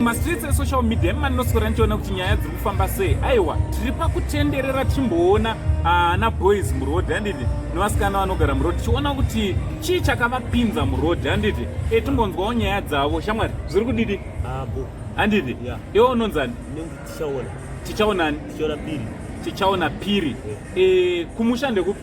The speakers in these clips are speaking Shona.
mastreets esocial media emani noswera ndichiona kuti nyaya dziri kufamba sei aiwa tiri pakutenderera tichimboona ana ah, boys muroad handiti nevasikana vanogara muroad tichiona kuti chii chakavapinza muroad handiti e eh, timbonzwawo nyaya dzavo shamwari zviri kudidi handiti iwe unonzani tichaonani tichaona piri tichaona piri eh, kumusha ndekupi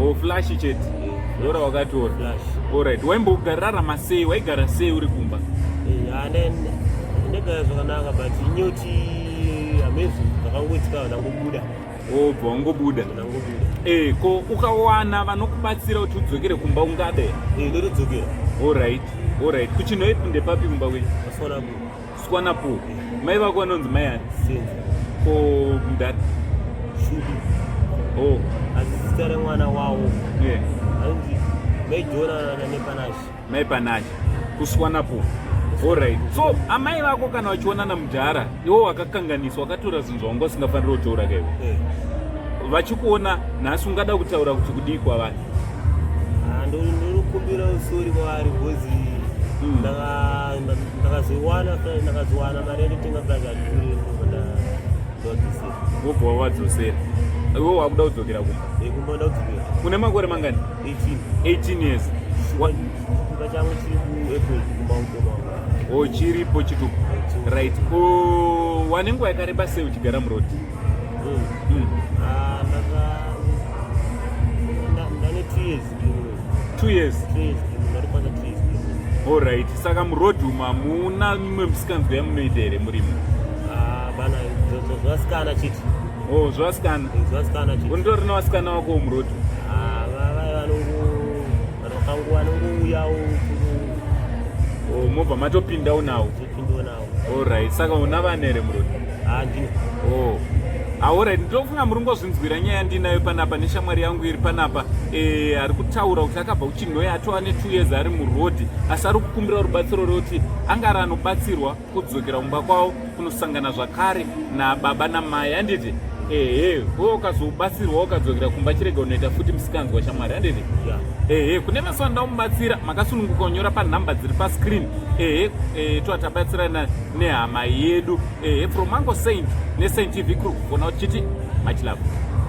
Oh, flash chete dora wakatora alright waimbogararama sei waigara sei uri kumba eh, ndagara zvakanaka but inyoti amazing vakangoitika vanangobuda obva wangobuda eh, ko ukawana vanokubatsira kuti udzokere kumba ungade eh, ndotodzokera olright olright kuchinoip ndepapi kumba kwenyu Swana po. Mai vako vanonzi mai ani? Senza. Ko mudhara? Shudu. Oh. Asi zita remwana wawo. Yeah. Anonzi mai Jona na Nepanashi. Mai Panashi. Kuswana po. Alright. So amai vako kana vachiona na mudhara, iwo wakakanganiswa, wakatora zvinhu zvawanga usingafaniri kutora kaiwe. Yeah. vachikuona nhasi ungada kutaura kuti kudii kwavari Ah, ndinokumbira usori kwaari bhozi hmm. ndakazoiwana ndakazowana mari yatotenga plaki andikureadodise wobva wadzosera iwe wakuda kudzokera kumba eh, kumba nda kudzokera une makore mangani 18 years chimba changu chiri kuapple kumba mukoma o oh, chiripo chituku right ko oh, wane nguva yakareba sei uchigara muroti Alright, saka muroad umu hamuna mimwe misikanzwa yamunoita here murimo? Ah, bana, zvasikana chiti. Oh, zvasikana. Zvasikana chiti. Unotori nevasikana vako muroad umu? Ah, vavai vanongu vanokangu vanongu uyawo. Oh, mobva matopindawo nawo. Topindawo nawo. Alright, saka una vana here murume? Handina. Oh. Alright, ndinofunga muri ngozvinzwira nyaya ndinayo panapa neshamwari yangu iri panapa eh, ari kutaura kuti akabva kuchinhoyi atova ne2 years ari muroad asi ari kukumbira rubatsiro rekuti angari anobatsirwa kudzokera kumba kwavo kunosangana zvakare nababa namai handiti ehe wo ukazobatsirwa ukadzokera kumba chirega unoita futi misikanzwa shamwari handiti ehe kune mazuva nda umubatsira makasununguka unyora panhamba dziri pascreen ehe e, toa tabatsirana nehama yedu ehe from ango saint nesaint tv kuri kugona uchiti machilavo